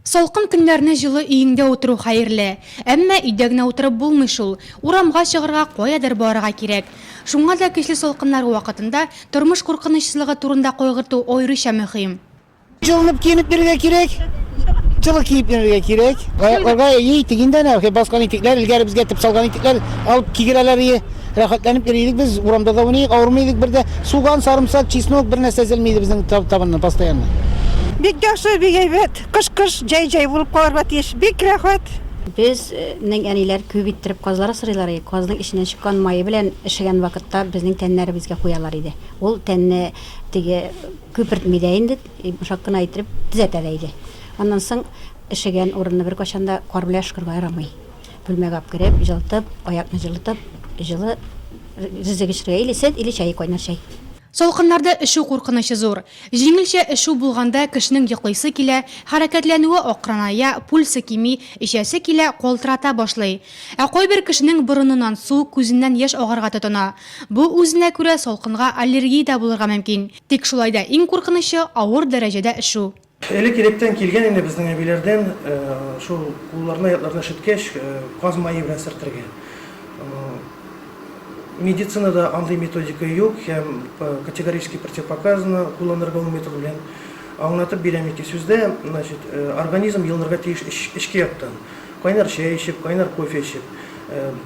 Салкын көннәрне җылы өеңдә утыру хәерле. Әмма өйдә генә утырып булмый шул. Урамга чыгарга, каядыр барырга кирәк. Шуңа да көчле салкыннар вакытында тормыш куркынычсызлыгы турында кайгырту аеруча мөһим. Җылынып киенеп йөрергә кирәк, җылы киеп йөрергә кирәк. Аякларга, әйе, итек инде әнә, баскан итекләр, элгәре безгә этеп салган итекләр алып кигерәләр, әйе. Рәхәтләнеп йөри идек без, урамда да уйный идек, авырмый идек бер дә. Суган, сарымсак, чеснок, бер нәрсә өзелми иде безнең табыннан постоянно. Бик яхшы, бик әйбәт. Кыш кыш, җәй җәй булып калырга тиеш. Бик рәхәт. Без нең әниләр күп иттереп казлар асрыйлар иде. Казның эченнән чыккан мае белән эшегән вакытта безнең тәннәребезгә куялар иде. Ул тәнне теге күпертми дә инде, йомшак кына иттереп төзәтә дә иде. Аннан соң эшегән урынны беркайчан да кар белән өшкергә ярамый. Бүлмәгә алып кереп, җылытып, аякны җылытып, җылы ризык эчерергә, или сөт, или чәй, кайнар чәй. Салкыннарда өшү куркынычы зур. Җиңелчә өшү булганда кешенең йоклыйсы килә, хәрәкәтләнүе акрыная, пульсы кими, эчәсе килә, калтырата башлый. Ә кайбер кешенең борыныннан су, күзеннән яшь агарга тотына. Бу үзенә күрә салкынга аллергия дә булырга мөмкин. Тик шулай да иң куркынычы, авыр дәрәҗәдә өшү. Элек-электән килгән инде безнең әбиләрдән шул кулларны, аякларны өшеткәч, каз мае белән сөртергә. Медицинада андый методика юк һәм категорически противопоказано кулланырга ул метод белән. Аңлатып бирәм ике сүздә, значит, организм йылынырга тиеш эчке яктан. Кайнар чәй эчеп, кайнар кофе эчеп.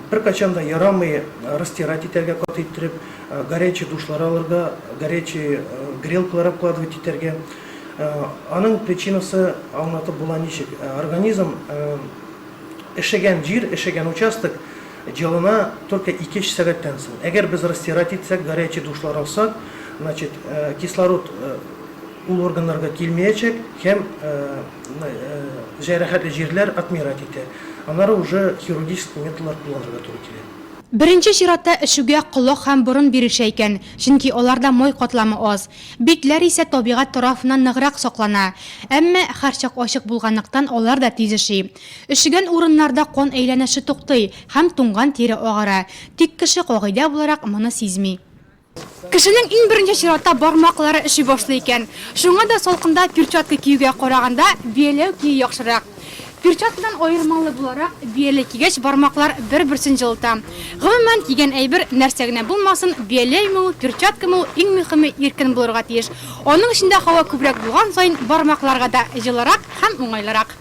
Беркайчан да ярамый растирать итәргә каты иттереп, горячий душлар алырга, горячий грелкалар обкладывать итәргә. Аның причинасы аңлатып була ничек? Организм эшегән җир, эшегән участок җылына только ике-өч сәгатьтән соң. Әгәр без растирать итсәк, горячий душлар алсак, значит, кислород ул органнарга килмиячәк һәм җәрәхәтле җирләр отмирать итә. Аннары уже хирургический методлар кулланырга туры килә. Беренче чиратта эшүгә колак һәм борын бирешә икән, чөнки аларда май катламы аз. Битләр исә табигать тарафыннан ныграк саклана. Әмма, һәрчак ачык булганлыктан, алар да тиз өши. Өшегән урыннарда кан әйләнеше туктый һәм туңган тире агара. Тик кеше, кагыйдә буларак, моны сизми. Кешенең иң беренче чиратта бармаклары өши башлый икән. Шуңа да салкында перчатка киюгә караганда бияләү кию яхшырак. Перчаткадан аермалы буларак, бияләй кигәч, бармаклар бер-берсен җылыта. Гомумән, кигән әйбер нәрсә генә булмасын, бияләйме ул, перчаткамы ул, иң мөхиме, иркен булырга тиеш. Аның эчендә һава күбрәк булган саен, бармакларга да җылырак һәм уңайлырак.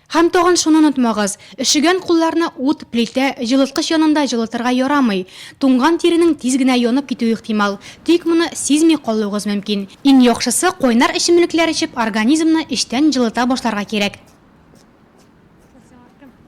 Һәм тагын шуны онытмагыз, өшегән кулларны ут, плитә, җылыткыч янында җылытырга ярамый. Туңган тиренең тиз генә янып китүе ихтимал. Тик моны сизми калуыгыз мөмкин. Иң яхшысы, кайнар эчемлекләр эчеп организмны эчтән җылыта башларга кирәк.